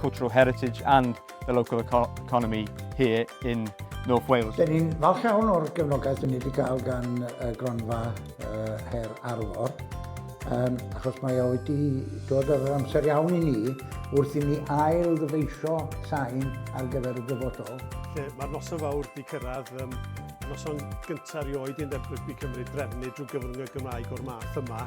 cultural heritage and the local economy here in North Wales. Dyn ni'n falch iawn o'r gefnogaeth dyn ni wedi cael gan y gronfa uh, Her Arfor, um, achos mae o wedi dod ar yr amser iawn i ni wrth i ni ail ddyfeisio sain ar gyfer y dyfodol. Lle mae'r noson fawr wedi cyrraedd, um, noson gyntaf rioed i'n Dempwyd Cymru drefnu drwy gyfrwng y Gymraeg o'r math yma.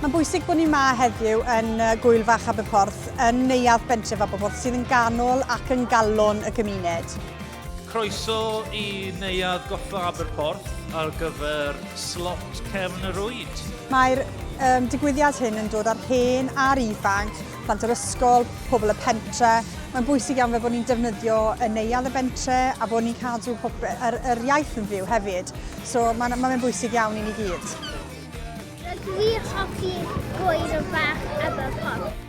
Mae'n bwysig bod ni yma heddiw yn Gwyl Fach Aberporth, yn neuadd bentref Aberporth, sydd yn ganol ac yn galon y gymuned. Croeso i neuadd Goffa Aberporth ar gyfer slot Cefn yr Oed. Mae'r um, digwyddiad hyn yn dod â'r hen a'r ifanc plant yr ysgol, pobl y pentre. Mae'n bwysig iawn fe bod ni'n defnyddio y neuadd y bentre a bod ni'n cadw pob, yr, yr iaith yn fyw hefyd. So mae'n ma bwysig iawn i ni gyd. Rydw i hoffi gwaed o bach efo pop.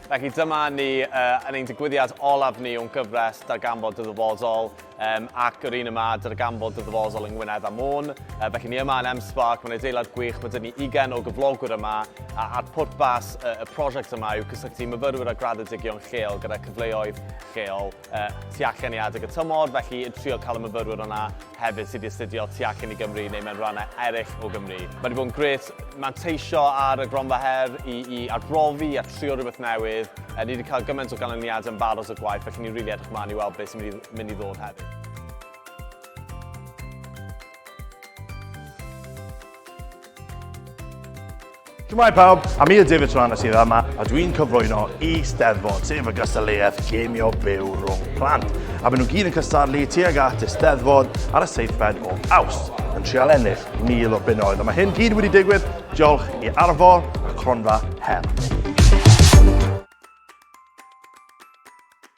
Felly dyma ni uh, yn ein digwyddiad olaf ni o'n gyfres Darganfod dy ddyfodol um, ac yr un yma Darganfod dy ddyfodol yng Ngwynedd a Môn. Uh, felly ni yma yn M-Spark, mae'n adeilad gwych, mae dyn ni 20 o gyflogwyr yma a, a'r pwrpas uh, y prosiect yma yw cysylltu myfyrwyr a graddedigion lleol gyda cyfleoedd lleol tu allan i adeg y tymor, felly yn trio cael y myfyrwyr yna hefyd sydd 'di astudio tu allan i Gymru neu mewn rhannau eraill o Gymru. Mae 'di bod yn grêt manteisio ar y Gronfa Her i i arbrofi a trio rhywbeth newydd. Yy ni 'di cael gymaint o ganlyniadau yn barod o gwaith, felly ni'n rili edrych mlaen i weld beth sy'n mynd i mynd i ddod hefyd. Shwmae pawb, a mi yw David Tranas sydd yma a dwi'n cyflwyno i Steddfod, sef y gystadleuaeth gemio byw rhwng plant. A maen nhw gyd yn cystadlu tuag at y Steddfod ar y seithfed o aws, yn trial ennill mil o bunnoedd. A mae hyn gyd wedi digwydd diolch i Arfor a Cronfa Her.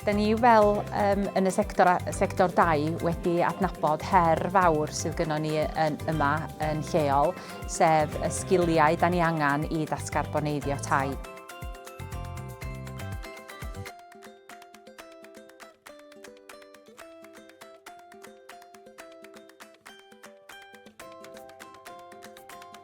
Da ni fel um, yn y sector, sector dau wedi adnabod her fawr sydd gynnon ni yn, yma yn lleol, sef y sgiliau da ni angen i ddatgarboneiddio tai.